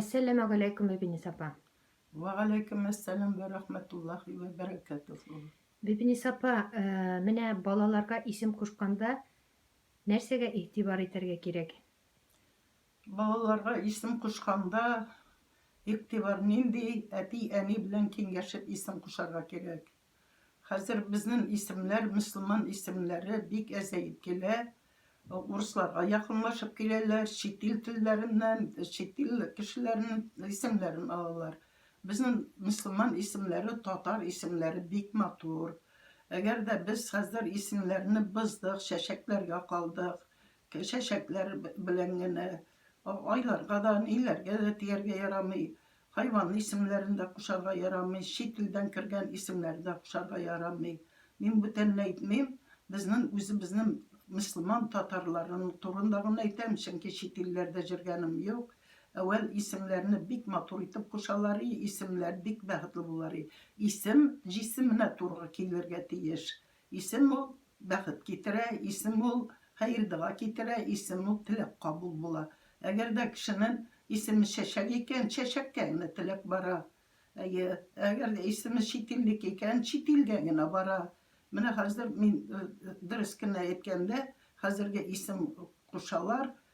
Әссәламәгаләйкүм Бибинис апа. Вәгаләйкүм әссәлам вә рахмәтуллахи вә бәрәкәтүһү. Бибинис апа, э, менә балаларга исем кушканда нәрсәгә игътибар итәргә кирәк? Балаларга исем кушканда игътибар нинди әти-әни белән киңәшеп исем кушарга кирәк. Хәзер безнен исемләр, мөселман исемләре бик әзәеп килә. Урысларга якынлашып киләләр, чит ил телләреннән, чит ил кешеләренен исемләрен алалар. Безнен мөселман исемләре, татар исемләре бик матур. Әгәр дә без хәзер исемнәрне быздык, чәчәкләргә калдык, чәчәкләр белән генә айларга да, ниләргә дә дияргә ярамый. Хайван исемнәрен дә кушарга ярамый, чит илдән кергән исемнәр дә кушарга ярамый. Мин бүтәнне әйтмим, безнен үзебезнен мөслиман татарларын турында гына әйтәм, чөнки чит илләрдә җөргәнем юк. Әүвәл исемнәрне бик матур итеп кушалар и, исемнәр бик бәхетле булалар и. Исем җисеменә тургы килергә тиеш. Исем ул, бәхет китерә, исем ул, хәер-дога китерә, исем ул, теләк кабул була. Әгәр дә кешенең исеме Чәчәк икән, чәчәккә генә теләк бара. Әйе, әгәр дә исеме чит илнеке икән, чит илгә генә бара. Менә хәзер мин, дөрес кенә әйткәндә, хәзерге исем кушалар,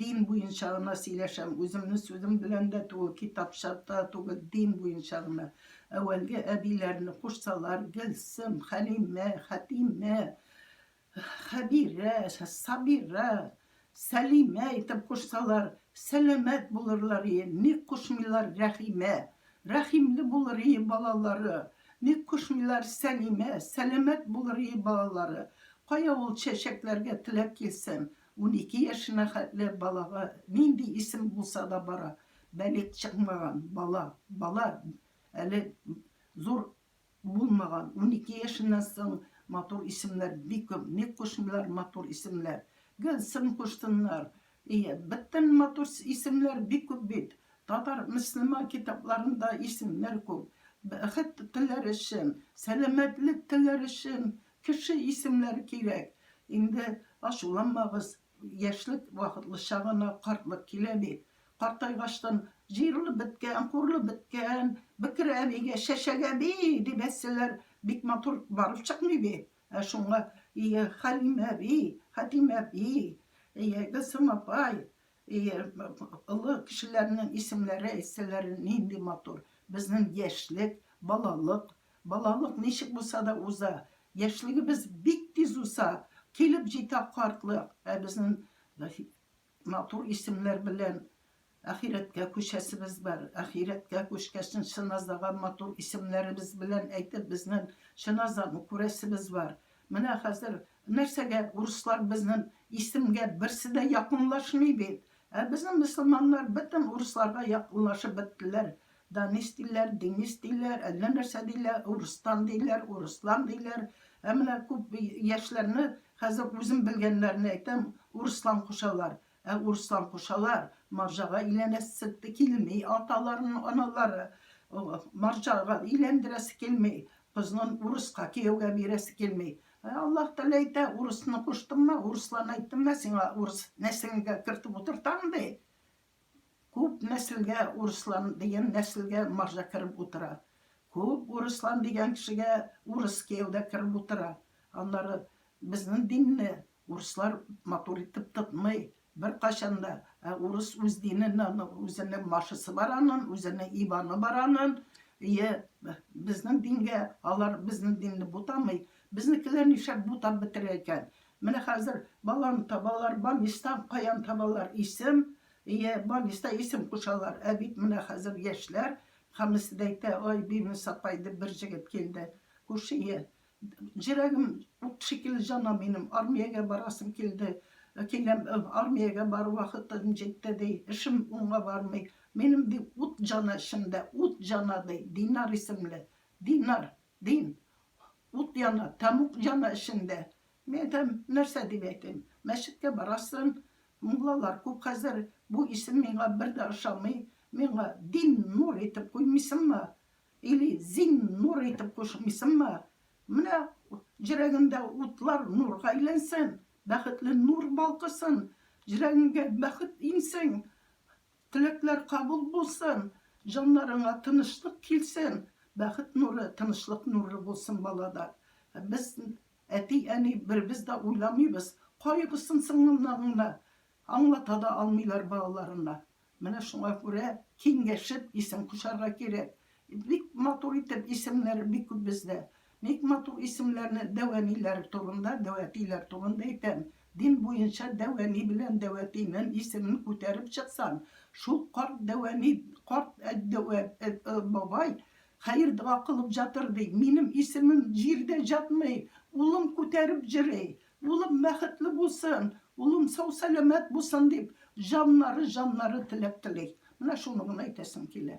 Дин буенча гына сөйләшәм, үземнең сүзем белән дә түгел, китапча да түгел, дин буенча гына. Әүвәлге әбиләрне кушсалар, Гөлсем, Хәлимә, Хәтимә, Хәбирә, Сабира, Сәлимә итеп кушсалар, сәламәт булырлар ие, ник кушмыйлар Рәхимә, рәхимле булыр ие балалары, ник кушмыйлар Сәлимә, сәламәт булыр ие балалары. Кая ул чәчәкләргә теләк килсен, Унике яшенә хәтле балага нинди исем булса да бара, балигъ чыкмаган бала, бала әле зур булмаган, унике яшеннән соң матур исемнәр бик күп, ник кушмыйлар матур исемнәр, Гөлсем кушсыннар, әйе, бөтен матур исемнәр бик күп бит, татар, мөслиман китапларында исемнәр күп, бәхет теләр өчен, сәламәтлек теләр өчен Кеше исемнәре кирәк. Инде ачуланмагыз, яшьлек вакытлыча гына, картлык килә бит. Картайгачтын, җыерылып беткән, курылып беткән, бекер әбигә, чәчәк әби! дип әйтсәләр, бик матур барып чыкмый бит. Ә шуңа, ие, Хәлимә әби, Хәтимә әби, ие, Гөлсем апай, ие, олы кешеләрнең исемнәре әйтсәләр, нинди матур. Безнең яшьлек, балалык, Балалык ничек булса да уза, яшьлегебез бик тиз уза, килеп җитә картлык, ә безнен матур исемнәр белән ахирәткә күчәсебез бар. Ахирәткә күчкәчн Шиназаган матур исемнәребез белән әйтеп безнен Шиназаны күрәсебез бар. Менә хәзер нәрсәгә урыслар безнен исемгә берсе дә якынлашмый бит. Ә безнен мөселманнар бөтен урысларга якынлашып беттеләр. Данис диләр, Денис диләр, әллә нәрсә диләр, Урыстан диләр, Урыслан диләр. Ә менә күп яшьләрне, хәзер үзем белгәннәрне әйтәм, Урыслан кушалар. Ә Урыслан кушалар, марҗага иләнәсе килми аталарының аналары. Марҗага иләндерәсе килми, кызын урыска кияүгә бирәсе килми. Ә Аллаһ Тәгалә әйтә, урысны куштыңмы, урыслан әйттеңме, сиңа урыс нәселеңә кертеп утыртам, ди. Күп нәселгә урыслан дигән нәселгә марҗа кереп утыра. Күп урыслан дигән кешегә урыс кияү дә кереп утыра. Аннары безнең динне урыслар матур итеп тотмый беркайчан да. Ә урыс үз динен, аның үзенең машысы бар анын, үзенең ибаны бар анын. Ие, безнең дингә алар безнең динне бутамый. Безнекеләр нишләп бутап бетерә икән? Менә хәзер баланы табалар, Банистан каян табалар, исем, ие, Баниста исем кушалар, ә бит менә хәзер яшьләр, һәммәсе дә әйтә, ай, Бимис апай дип бер җегет килде, күрше, ие, Җөрәгем ут шикелле җана минем, армиягә барасым килде, киләм, армиягә бару вакытым җитте, ди, эшем уңга бармый, минем, ди, ут җана эчемдә, ут җана, ди, Динар исемле, Динар! Дим, ут яна, тәмуг яна эчендә. Мин әйтәм, нәрсә дип әйтим? Мәчеткә барасың, муллалар күп хәзер, бу исем миңа бер дә ошамый, миңа Диннур итеп куймыйсыңмы? Или Зиннур итеп кушмыйсыңмы? Менә җөрәгеңдә утлар нурга әйләнсен, бәхетле нур балкысын, җөрәгеңгә бәхет иңсен, Теләкләр кабул булсын! Җаннарыңа тынычлык килсен! Бәхет нуры, тынычлык нуры булсын балада! Ә без, әти, әни, беребез дә уйламыйбыз, кайгысын сыңлымнарына аңлата да алмыйлар балаларына. Менә шуңа күрә киңәшеп исем кушарга кирәк. Бик матур итеп исемнәр бик күп бездә. Ник матур исемләрне дәвәниләр турында, дәвәтиләр турында әйтәм? Дин буенча дәвәни белән дәвәтинен исемен күтәреп чыксаң, шул карт дәвәни, карт дәвә, бабай, хәер-дога кылып жатыр ди, минем исемем җирдә җатмый, улым күтәреп җөри, улым бәхетле булсын, улым сау-сәламәт булсын дип, җаннары-җаннары теләк тели. Менә шуны гына әйтәсем килә.